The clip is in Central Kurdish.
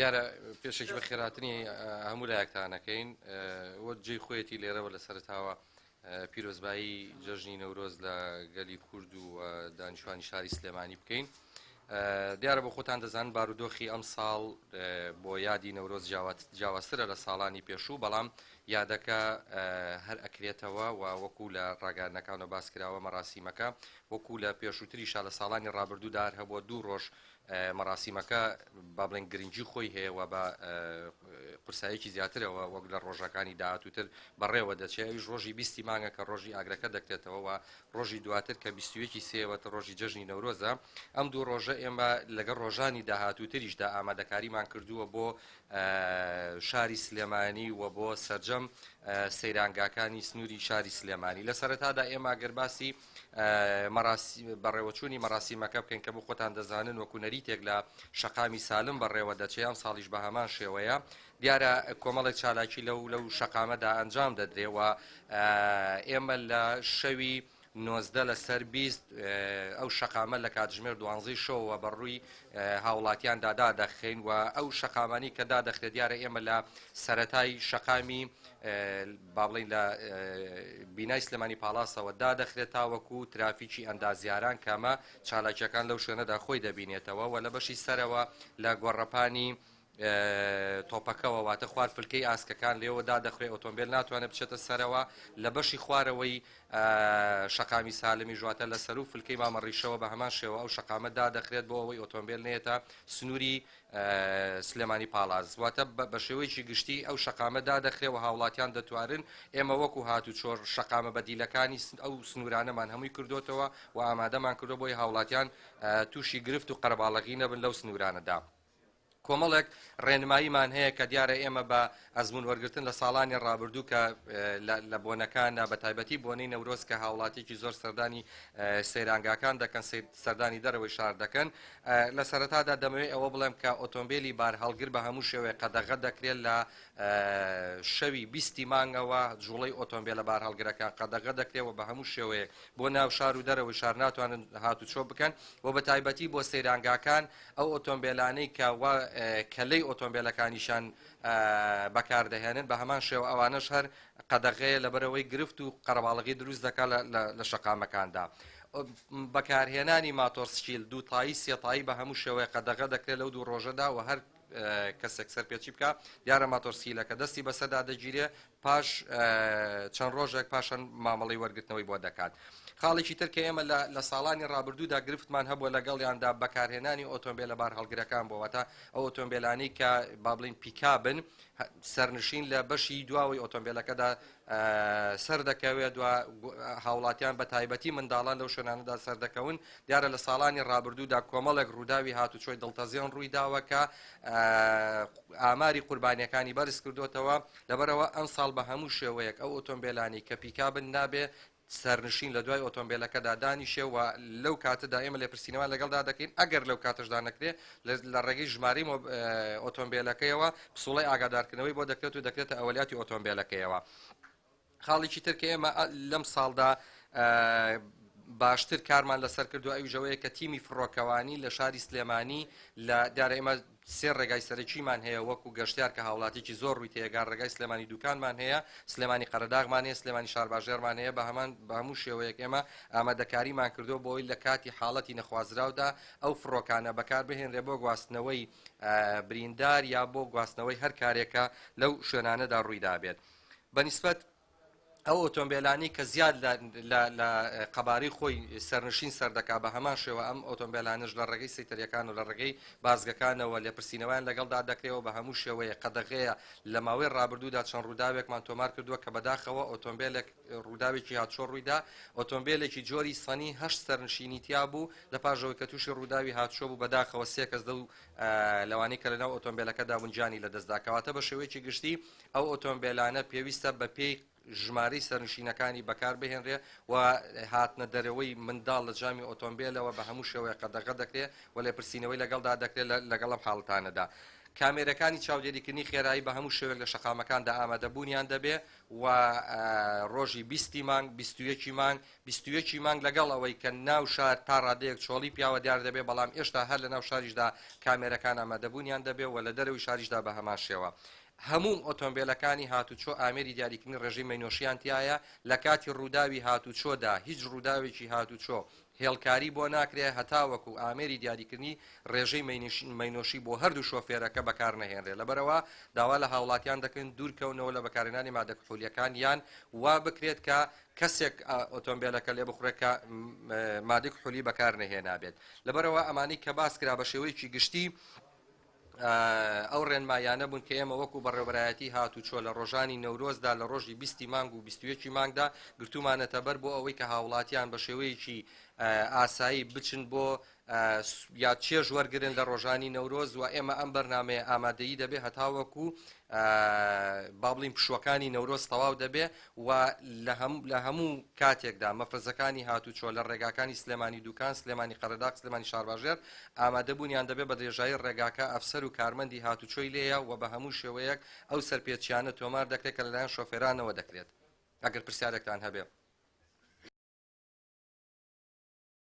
دیارە پێشێکی بە خێراتنی هەموو لایەکتانەکەین وە جێ خۆیەتی لێرەوە لە سەرتاوە پیرۆزبایی جەژنی نەورۆز لە گەلی کورد و دانیشتوانی شاری سلێمانی بکەین دیارە بۆ خۆتان دەزان بارودۆخی ئەم ساڵ بۆ یادی نەورۆز جیاوازترە لە ساڵانی پێشوو بەڵام یادەکە هەر ئەکرێتەوە و وەکو لە ڕاگەانەکانەوە باس کراوە مەراسیمەکە وەکو لە پێشووتری شا لە ساڵانی ڕابردوودار هەبووە دوو ڕۆژ مەراسیمەکە با بڵێن گرنگی خۆی هەیە و بە قورسایەکی زیاترەوە وەک لە ڕۆژەکانی داهاتووتر بەڕێوە دەچێت ئەویش ڕۆژی بیستی مانگە کە ڕۆژی ئاگرەکە دەکتێتەوە و ڕۆژی دواتر کە بیستویەکی سێوەتە ڕۆژی جەژنی نەورۆزە ئەم دوو ڕۆژە ئێمە لەگەڵ ڕۆژانی داهاتووتریشدا ئامادەکاریمان کردووە بۆ شاری سلێمانی و بۆ سرجەم سەیرانگاکانی سنووری شاری سلێمانی لە سەرەتادا ئێمە گەرباسی بەڕێوەچوونی مەراسیمەکە بکەین کە بۆ خۆتان دەزانن وەکو نەریتێک لە شەقامی سالم بەڕێوە دەچێ ئەم ساڵیش بە هەمان شێوەیە دیارە کۆمەڵێک چالاکی لەو لەو شەقامەدا ئەنجام دەدرێەوە ئێمە لە شەوی نۆزدە لەسەر بیست ئەو شەقامە لە کاتژمێر دوانزی شەوە بە ڕووی هاوڵاتیان دادا دەخین و ئەو شەقامانی کە دادەخرێت دیارە ئێمە لە سەتای شەقامی با بڵێین لە بینای سلێمانی پاڵاسەوە دادەخرێت تاوەکو ترافیکی ئەندازیاران کە ئەمە چالاکیەکان لەو شوێنەدا خۆی دەبینێتەوە و لە بەشی سەرەوە لە گۆڕەپانی تۆپەکەەوە واتە خوار فلکەی ئاسکەکان لێەوە دادەخرێت ئۆتۆمبیل ناتوانێت بچێتە سەرەوە لە بەشی خوارەوەی شقامی سالمی ژواتە لە سەر و فلکەی مامەڕیشەوە بە هەمان شێوە ئەو شقامە دادەخرێت بۆ ئەوەی ئۆتۆمبیل نێتە سنووری سلێمانی پاڵاس، واتە بە شێوەیەکی گشتی ئەو شەقامە دادەخرێ و هاوڵاتیان دەتوانن، ئێمە وەکو هاتوچۆ شەقامە بەدیلەکانی ئەو سنوورانەمان هەمووی کردۆتەوە و ئامادەمان کردووە بۆی هاوڵاتیان تووشی گرفت و قەرەباڵغی نەبن لەو سنوورانەدا کۆمەڵێک ڕێنماییمان هەیە کە دیارە ئێمە بە ئەزموون وەرگرتن لە ساڵانی ڕابردوو کە لە بۆنەکاندا بە تایبەتی بۆنەی نەورۆز کە هاوڵاتیکی زۆر سەردانی سەیرانگاکان دەکەن سەردانی دەرەوەی شار دەکەن لە سەرەتادا دەمەوێت ئەوە بڵێم کە ئۆتۆمبیلی بار هەڵگر بە هەموو شێوەیە قەدەغە دەکرێت لە شەوی بیستی مانگەوە جوڵەی ئۆتۆمبیل لە بار هەڵگرەکان قەدەغە دەکرێەوە بە هەموو شێوەیە بۆ ناو شار و دەرەوەی شار ناتوانن هاتوچۆ بکەن و بە تایبەتی بۆ سەیرانگاکان ئەو ئۆتۆمبیلانەی کە کەلەی ئۆتۆمبیلەکانیشان بەکاردەهێنن بەهەمان شێوە ئەوانەش هەر قەدەغەیە لەبەرەوەی گرفت و قەرەباڵغی دروست دەکا لە شەقامەکاندا. بەکارهێنانی ماتۆر سکیل دووتایی سێتایی بە هەموو شێوەیە قەدەغە دەکرێت لەو دوو ڕۆژەدا و هەر کەسێک سەرپێچی بکە دیارە ماتۆرسیلەکە دەستی بەسەدا دەگیرێ پاش چەند ڕۆژێک پاشان مامەڵەی وەرگرتنەوەی بۆ دەکات. خاڵێکی تر کە ئێمە لە ساڵانی ڕابردوودا گرفتمان هەبووە لەگەڵیاندا بەکارهێنانی ئۆتۆمبیلە بارهەڵگرەکان بۆ واتە ئەو ئۆتۆمبیلانی کە با بڵین پیکابن سەرنشین لە بەشی دواوەی ئۆتۆمبیلەکەدا سەر دەکەوێت دو هاوڵاتیان بە تایبەتی منداڵان لەو شوێنانەدا سەردەکەون دیارە لە ساڵانی ڕابردوودا کۆمەڵێک ڕووداوی هاتوچۆی دڵتەزیێن ڕووی داوە کە ئاماری قوربانیەکانی بەرز کردوتەوە لەبەرئەوە ئەمساڵ بە هەموو شێوەیەک ئەو ئۆتۆمبێلانەی کە پیکابن نابێت سەرنشین لە دوای ئۆتۆمبێلەکەدا دانیشێ و لەو کاتەدا ئێمە لێپرسینەوان لەگەڵدا دەکەین ئەگەر لەو کاتەشدا نەکرێ لە ڕێگەی ژمارەی ئۆتۆمبێلەکەیەوە پسوڵەی ئاگادارکردنەوەی بۆ دەکرێت و دەکرێتە ئەولیاتی ئۆتۆمبێلەکەیەوە. خاڵێکی تر کە ئێمە لەم ساڵدا باشتر کارمان لەسەر کردو ئەویش ئەوەیە کە تیمی فڕۆکەوانی لە شاری سلێمانی لە دیارە ئێمە سێ ڕێگای سەرەکیمان هەیە وەکو گەشتیار کە هاوڵاتیی زۆر ڕووی تێگار ڕێگای سلێمانی دوکانمان هەیە سلێمانی قەرەداغمان هەیە سلێمانی شارباژێرمان هەیە بە هەمان بە هەموو شێوەیەک ئێمە ئامادەکاریمان کردو بۆی لە کاتی حاڵەتی نەخوازراودا ئەو فڕۆکانە بەکاربهێنرێ بۆ گواستنەوەی بریندار یا بۆ گواستنەوەی هەر کارێکە لەو شوێنانەدا ڕوویدابێت. بە نیسبەت ئەو ئۆتۆمبێلانەی کە زیاد لە قەبارەی خۆی سەرنشین سەردەکا بە هەمان شێوە ئەم ئۆتۆمبێلانش لە ڕێگەی سەیتەریەکان و لە ڕێگەی بازگەکانەوە لێپرسینەوەیان لەگەڵدا دەکرێەوە بە هەموو شێوەیە قەدەغەیە لە ماوەی ڕابردوودا چەند ڕووداوێکمان تۆمار کردووە کە بەداخەوە ئۆتۆمبیلێک ڕووداوێکی هاتچۆ ڕوویدا ئۆتۆمبیلێکی جۆری سەنی هەشت سەرنشینی تیا بوو لە پاژەوەی کە تووشی ڕووداوی هاتچۆ بوو بەداخەوە سێکەس دە و لەوانی کە لەناو ئۆتۆمبیلەکەدا بنجانی لە دەستداکەواتە بە شێوەیەکی گشتی ئەو ئۆتۆمبێلانە پێویستە بە پێی ژمارەی سەرنشینەکانی بەکار بهێنرێ و هاتنە دەرەوەی منداڵ لە جامی ئۆتۆمبێلەوە بە هەموو شێوەیە قەدەغە دەکرێ و لێپرسینەوەی لەگەڵدا دەکرێت لەگەڵ ئەم حاڵەتانەدا کامێرەکانی چاودێریکردنی خێرایی بە هەموو شێوێک لە شەقامەکاندا ئامادەبوونیان دەبێ و ڕۆژی بیستی مانگ بیستویەکی مانگ بیستویەکی مانگ لەگەڵ ئەوەی کە ناو شار تا ڕادەیەک چۆڵی پیاوە دیار دەبێ بەڵام ئێشتا هەر لە ناو شاریشدا کامێرەکان ئامادەبوونیان دەبێ و لە دەرەوەی شاریشدا بە هەمان شێوە هەموو ئۆتۆمبێلەکانی هاتووچۆ ئامێری دیاریکردنی ڕێژەی مەینۆشیان تیایە، لە کاتی ڕووداوی هاتووچۆدا هیچ ڕووداوێکی هاتووچۆ هێڵکاری بۆ ناکرێت هەتاوەکو ئامێری دیاریکردنی ڕێژەی مەینۆشی بۆ هەردوو شۆفێرەکە بەکارنەهێنرێت، لەبەرئەوە داوا لە هاوڵاتیان دەکەین دوورکەونەوە لە بەکارهێنانی مادە کحولییەکان یان وا بکرێت کە کەسێک ئۆتۆمبێلەکە لێبخوڕێت کە مادەی کحولی بەکارنەهێنابێت، لەبەرئەوە ئەمانەی کە باسکرا بە شێوەیەکی گشتی. ئەو ڕێنماییانە بوون کە ئێمە وەکوو بەڕێوەبەرایەتی هاتوچۆ لە ڕۆژانی نەورۆزدا لە ڕۆژی بیستی مانگ و بیست و یەکی مانگدا گرتوومانەتەبەر بۆ ئەوەی کە هاوڵاتیان بە شێوەیەکی ئاسایی بچن بۆ یاد چێژ وەرگن لە ڕۆژانی نەورۆز و ئێمە ئەم بەرنمەیە ئامادەی دەبێ هەتاوەکو بابلین پشوەکانی نەورۆز تەواو دەبێ و لە هەموو کاتێکدا مەفرەزەکانی هاتووچۆ لە ڕێگاکانی سلێمانی دووکان، سلێمانی قەرەداغ، سلێمانی شارباژێر ئامادەبوونیان دەبێت بە درێژایی ڕێگاکە ئەفسەر و کارمەندی هاتووچۆی لێیە و بە هەموو شێوەیەک ئەو سەرپێچییانە تۆمار دەکرێت کە لەلایەن شۆفێرانەوە دەکرێت. ئەگەر پرسیارێکتان هەبێت.